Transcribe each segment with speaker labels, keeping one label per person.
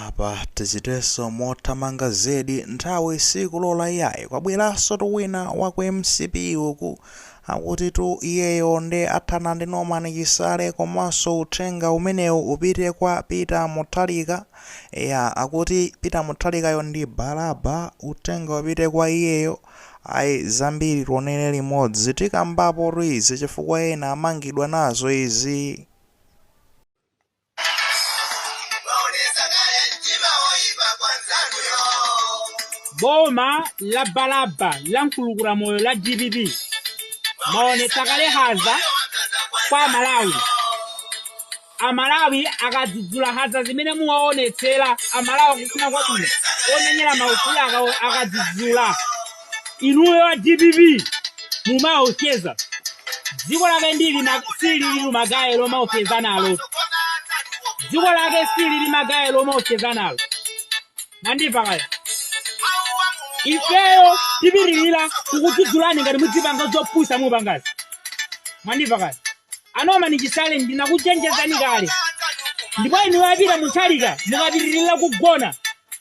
Speaker 1: Apa tichitenso mothamanga zedi nthawi sikulola iyayi kwabweraso tu wina wa ku mcp uku akuti tu iyeyo nde athana ndi Norman Chisale komaso uthenga umeneu upite kwa Peter Mutharika eya akuti Peter Mutharikayo ndi Balaba uthenga upite kwa iyeyo ayi zambiri tionele limodzi tikambapo tu izi chifukwa ena amangidwa nazo izii.
Speaker 2: Boma la balaba la nkulukuta moyo la dpp mwaonetsa kale nkhanza kwa amalawi amalawi akadzudzula nkhanza zimene muwaonetsera amalawi akufuna kwabwino omenyera maufulu akawo akadzudzula inuyo a dpp mumaopseza dziko lake ndili ma- silili magaye lomaopseza nalo dziko lake silili magaye lomaopseza nalo mwandimva kaya ifeyo tipitirira kukudzudzulani ngati mudzipanga zopusa mupangazi mwandimva kaya a Norman Chisale ndinakuchenjezani kale ndipo inuyo a Peter Mutharika mukapitirira kugona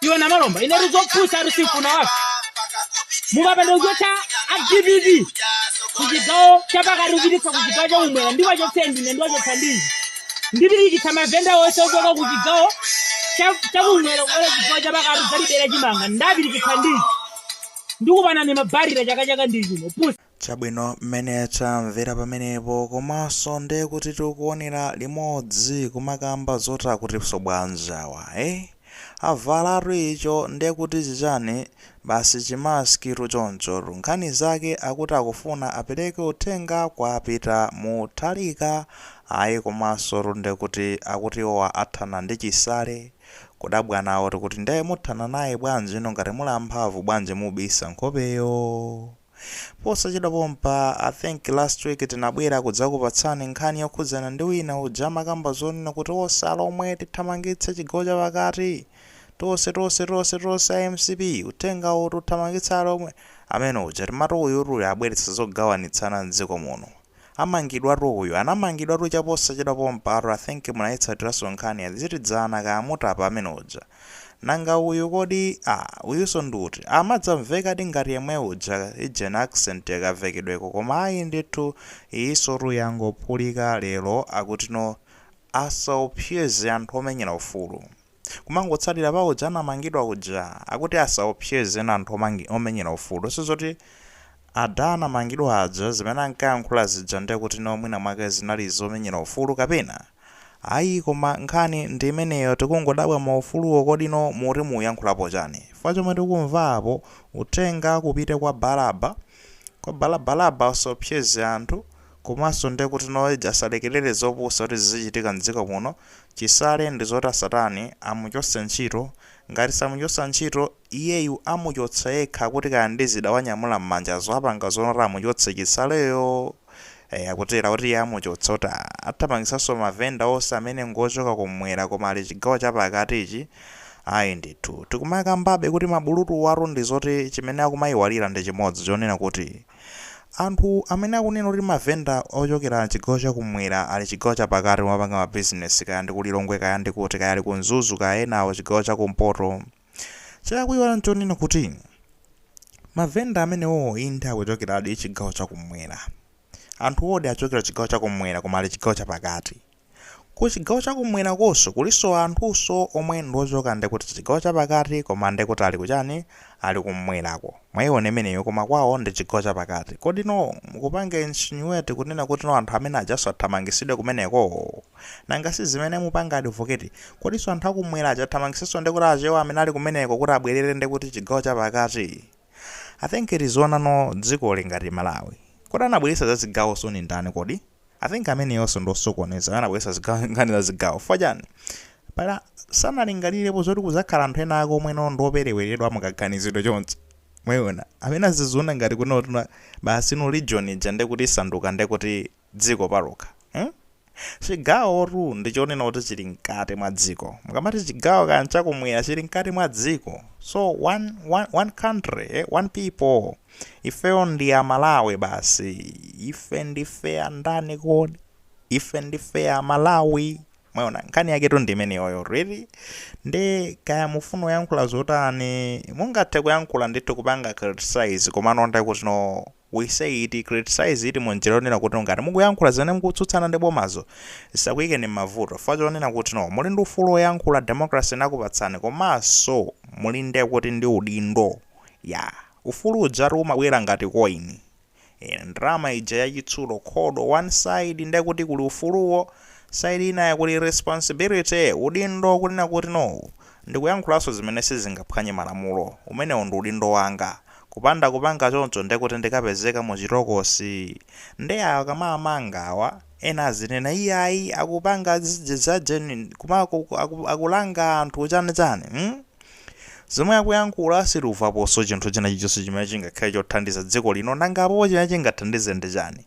Speaker 2: iwe namalomba inetu zopusa ari sifuna wako mukapanda kuchotsa a dpp kuchigawo chapakati kupititsa kuchigawo chaumwera ndiwachotse ndine ndiwachotsa ndinji ndipirikitsa mavenda onse ochoka kuchigawo cha- chakumwera kubwera chigawo chapakati kudzatibera chimanga ndapirikitsa ndinji ndikupanani mabatire chaka chake ndi chino pusa Chabwino
Speaker 1: mmene tamvera pamenepo komaso nde kuti tikuonera limodzi kumakamba zoti akutiso bwanji awa eeh avalatu icho nde kuti chichani basi chi mask tu chonchotu nkhani zake akuti akufuna apeleke uthenga kwa peter mutharika ayi komasotu nde kuti akuti iwowa athana ndi chisale kudabwa nawo tikuti nde muthana naye bwanji inu ngati muli amphamvu bwanji mubisa nkhopeyo? Posachedwa pompa I think last week tinabwera kudzakupatsani nkhani yokhudzana ndi wina uja amakamba zonena kuti ose alomwe tithamangitse chigawo chapakati, tose tose tose tose a mcp uthenga uwu tiwathamangitsa alomwe, amene uja timati uyutu abweretsa zogawanitsana mdziko muno. Amangidwatu uyu, anamangidwatu chaposachedwa pompatu I think munaitsatiraso nkhani is it dzana kaya mutapa amene uja? Nanga uyu kodi aah uyuso ndi uti? Amadzamvekadi ngati yemwe uja ija in accent ya kamvekedweko koma ayi ndithu iyisotu yangophulika lero akuti no asaophyeze anthu omenyera ufulu. Kumangotsalira pa uja anamangidwa uja. Akuti asaopseze ena anthu omangi, omenyera ufulu. Sizoti ada anamangidwa aja zimene ankayankhula zija ndiye kuti no mwina mwake zinali zomenyera ufulu kapena? Ayi koma nkhani ndi imeneyo tikungodabwa maufuluwo kodino muti muyankhulapo chani? Chifukwa chomwe tikumva apo uthenga upite kwa Balaba, kwa Bala Balaba usaopseze anthu. Komanso nde kuti Noledge asalekelere zopusa kuti zizichitika mdziko muno, Chisale ndi zoti asatani amuchotse ntchito, ngati samuchotsa ntchito, iyeyu amuchotsa yekha kuti kaya ndi zida wanyamula mmanjazo apanga zoti amuchotse Chisaleyo! Eya akutero, akuti iye amuchotsa kuti athamangitsanso ma vendor onse amene ngochoka kummwera koma ali chigawo cha pakati ichi, ayi ndithu, tikumakambabe kuti mabulutuwatu ndi zoti chimene akumaiwalira ndi chimodzi chonena kuti. Anthu amene akunena kuti ma vendor ochokera chigawo cha kumwera ali chigawo cha pakati kumapanga ma business kaya ndi ku Lilongwe kaya ndi kuti kaya ali ku Mzuzu kaya enawo chigawo cha kumpoto. Chakuiwala nchonena kuti ma vendor amenewowo inde akuchokeradi chigawo cha kumwera. Anthuwodi achokera chigawo cha kumwera koma ali chigawo cha pakati. Ku chigawo cha kumwera konso kulinso anthunso omwe ndi ochoka nde kuti chigawo cha pakati koma nde kuti ali ku chani? Ali kumwerako. Mwaiona imeneyo koma kwawo ndi chigawo cha pakati. Kodino mukupanga insinuate kunena kuti no anthu amene ajanso athamangisidwe kumeneko? Nanga si zimene mupanga advocate? Kodinso anthu a kumwera aja athamangisenso nde kuti achewa amene ali kumeneko kuti abwerere nde kuti chigawo cha pakati? I think tiziona no dzikoli ngati Malawi. Kodi anabweretsa za zigawozoni ndani kodi? I think ameneyonso ndi osokoneza amene anabweretsa ziga- nkhani za zigawo chifukwa chani pala sanalingalirepo zoti kuzakhala anthu ena ake omwe no ndiopereweredwa mukaganizidwe chonchi mwaiona amene aziziona ngati kunotu no basi no region ija ndekuti isanduka ndekuti dziko palokha hmm? chigawo tu ndi chonena kuti chili mkati mwa dziko mukamati chigawo kaya nchakumwera chili mkati mwa dziko so one, one, one country eh? one people Ifeyo ndi a Malawi basi. Ife ndife a ndani kodi? Ife ndife a Malawi. Mwaona, nkhani yaketu ndi imeneyoyo really. Nde kaya mufuna kuyankhula zotani, mungathe kuyankhula ndithu kupanga criticize, komano nde kuti no criticize it criticize it munjira yonena kuti ngati mukuyankhula zimene mukutsutsana ndi bomazo zisakuyikeni m'mavuto, chifukwa chonena kuti no muli ndi ufulu woyankhula, democracy inakupatsani, komanso muli nde kuti ndi udindo. Yaa, ufulu ujatu umabwera ngati coin. Inu ndalama ija ya chitsulo iri ndi one side nde kuti kuli ufuluwo, side ina kuli responsibility, udindo kunena kuti no, ndikuyankhulanso zimene sizingaphwanye malamulo, umenewo ndi udindo wanga. Kupanda kupanga choncho nde kuti ndikapezeka mu chitokosi. Nde awa akamawamanga awa, ena azinena iyayi akupanga za ujeni, kuma, aku, aku, akulanga anthu chani chani, hmm? Zomwe akuyankhula sitikuvaposo chinthu china chilichose chimene chingakhale chothandiza dziko lino nanga apopo chimene chingathandize ndi chani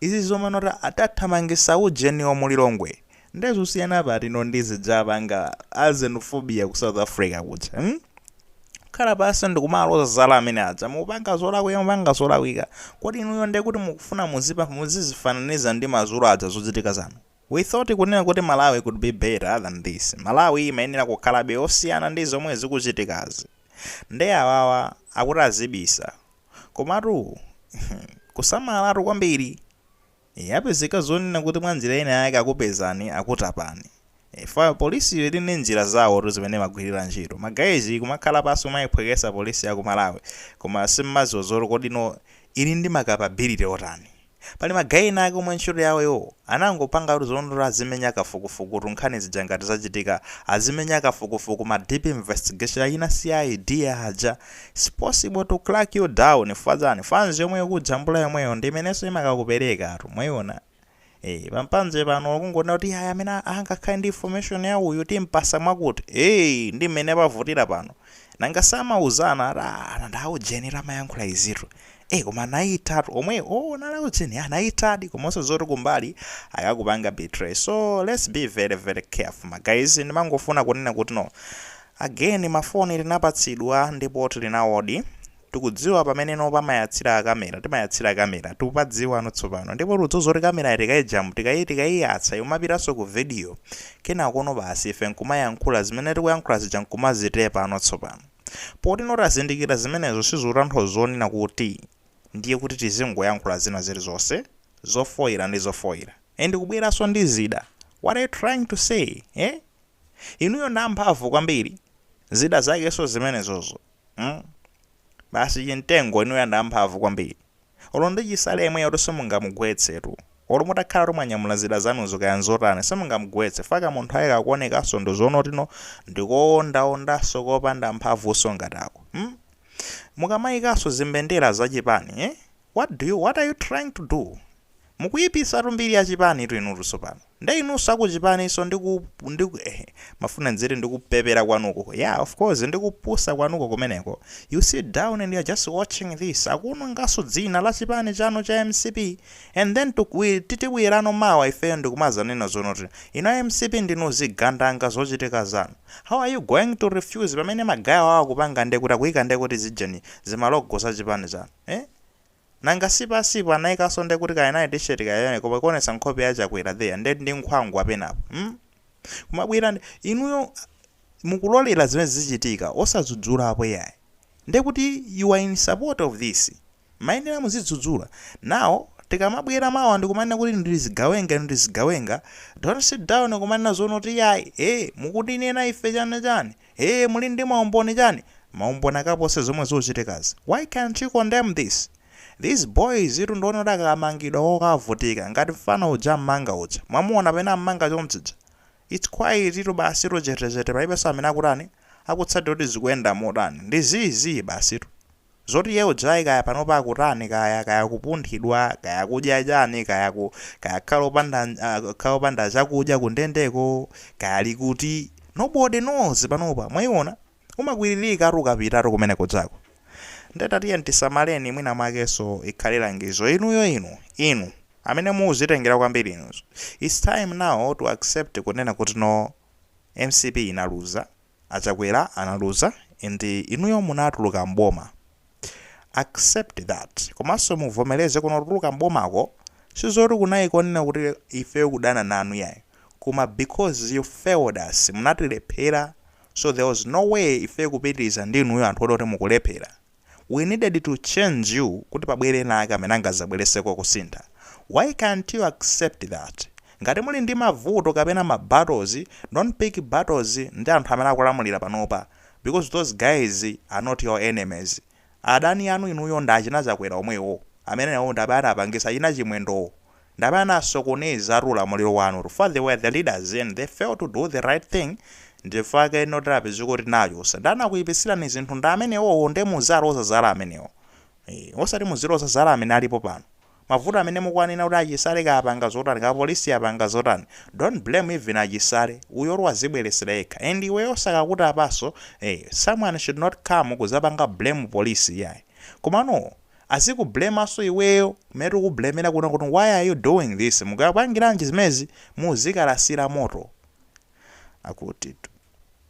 Speaker 1: izi zomwe no atathamangisa ujeniwo mu Lilongwe nde zosiyana pati no ndi zija akupanga a xenophobia ku south Africa kuja mm khala pasi ndikumaloza zala amene aja mupanga zolakwika mupanga zolakwika kodi inuyo nde kuti mukufuna muzipa muzizifananiza ndi mazulu aja zochitika zanu We thought kunena kuti Malawi could be better than this. Malawi imayenera kukhalabe yosiyana ndi zomwe zikuchitikazi. Nde awawa akuti azibisa. Komatu kusamalatu kwambiri. Yapezeka zonena kuti mwanjira ina yake akupezani, akutapani. Chifukwa polisiyo ili ndi njira zawotu zimene imagwirira ntchito. Ma guys mumakhala pansi kumaiphweketsa polisi ya ku Malawi. Koma simumadziwa zoti kodi no ili ndi ma capability otani. Pali ma guy ena ake omwe ntchito yawo iwowo anangopangatu zonena kuti azimenya kafukufukutu nkhani zija ngati zachitika, azimenya kafukufuku ma deep investigation achina CID aja, it's possible to crack you down chifukwa chani, fanzi yomwe ikujambula yomweyo ndi imeneso imakakuperekatu, mwaiona? Eeh, pa mpanje pano olo kungonena kuti iyayi amene angakhale ndi information ya uyu timpasa mwakuti, eeh ndi mmene pavutira pano. Nanga samauzana ati aah anada a ujeni tu amayankhula izitu eh koma anaithatu omwewo oh unali a ujeni eh anaithadi komanso zoti kumbali akakupanga betray so let's be very very careful ma guys ndimangofuna kunena kuti no again ma phone tinapatsidwa ndipo tili nawodi Tikudziwa pamene no pamayatsira camera, timayatsira camera, tikupadziwa no tsopano. Ndipo tikudziwa zoti camerayi tikaijamb, tikayi, tikayiyatsa, imapitaso ku video. Kenako no basi, ife nkumayankhula, zimene tikuyankhula zija nkumazitepa no tsopano. Poti no tazindikira zimenezo sizikutanthauza zonena kuti ndiye kuti tizingoyankhula zina zilizonse, zofoira ndi zofoira. And kubweraso ndi zida, what are you trying to say, eh? Inuyo ndi amphamvu kwambiri, zida zakeso zimenezozo. mm basi chimtengo inuyo ndi amphamvu kwambiri olo ndi chisale yemweyotu simungamugwetsetu olo mutakhalatu mwanyamula zida zanuzo kaya nzotani simungamugwetse fa kamunthu kake kakuonekaso ndi zoti no ndikoondaondaso kopanda mphamvuso ngati ako mm mukamayikaso zimbendera za chipani eh what are you trying to do? Mukuyipisatu mbiri ya chipani tu inutu tsopano. Nde inunso a ku chipaninso ndi ku ndi ku eh ndimafuna ndiziti ndi kupepera kwanuko. Yeah of course ndi kupusa kwanuko kumeneko. You sit down and you're just watching this. Akuwononganso dzina la chipani chanu cha mcp and then titibwerano mawa ifeyo ndi kumadzanena zonoti inu a mcp ndinu zigandanga zochitika zanu. How are you going to refuse pamene magayewo akupanga nde kuti akuyika nde kuti zija ni zimalogo za chipani chanu? Eh? Nanga si paja si anaikanso nde kuti kaya nayo t-shirt kaya chani koma ikuonetsa nkhope ya Chakwera there ndi nkhwangwa penapo. Mm? Kumabwera inuyo mukulolera zimenezi zichitika osadzudzulapo yayi. Nde kuti you are in support of this. Mayenera muzidzudzula. Now tikamabwera mawa ndikumanena kuti inu ndi zigawenga inu ndi zigawenga don't sit down kumanena zonena kuti yayi eh mukutinena ife chani chani. Eee muli ndi maumboni chani? Maumboni akapose zomwe zuchitikazi? Why can't you condemn this? These boys tu ndi oti akamangidwa akavutika ngati mfana uja am'manga uja. Mwamuona pamene am'manga chonchija? It's quiet tu basitu chetechete palibenso amene akutani? Akutsatira kuti zikuyenda motani. Ndi zii zii basitu. Zoti Yeo Jai kaya panopa akutani kaya, kaya akupunthidwa, kaya akudya chani, kaya ku, kaya kukhala opanda, kukhala opanda chakudya ku ndendeko, kaya ali kuti, nobody knows panopa, mwaiona? Umakwiririkatu ukapitatu kumene kujako. Nde tatiyeni tisamaleni mwina mwakenso ikhale langizo. Inuyo inu, inu, amene mukuzitengera kwambiri inuzo, it's time now to accept kunena kuti no, mcp inaluza. Achakwera analuza and inuyo munatuluka m'boma accept that komanso muvomeleze kuti kutuluka m'bomako sizoti kunali konena kuti ifeyo kudana nanu yayi koma because you failed us munatilephera so there was no way ifeyo kupitiliza ndi inuyo anthu oti mukulephera we needed to change you kuti pabwere ena ake amene angazabwereseko kusintha, why cant you accept that ngati muli ndi mavuto kapena ma battles don't pick battles ndi anthu amene akulamulira panopa because those guys are not your enemies adani anu inuyo ndi achina chakwera omwewo amene nawo ndi amene anapangisa achina chimwendowo ndi amene anasokonezatu ulamuliro wanu chifukwa they were the leaders and they failed to do the right thing ndichifukwa chake ino tidapezeka kuti tinachosa amene anakuipitsirani zinthu ndi amenewowo nde muziloza zala amenewo ee osati muziloza zala amene alipo pano mavuto amene mukuwanena kuti achisale kaya apanga zotani kaya polisi apanga zotani don't blame even achisale uyotu wazibweretsera yekha and iweyo osakakutapaso ee someone should not come kuzapanga blame polisi iyayi komano aziku blamanso iweyo kumene tiku blamera kunena kuti why are you doing this mukapangiranji zimezi muzikalasila moto akutitu.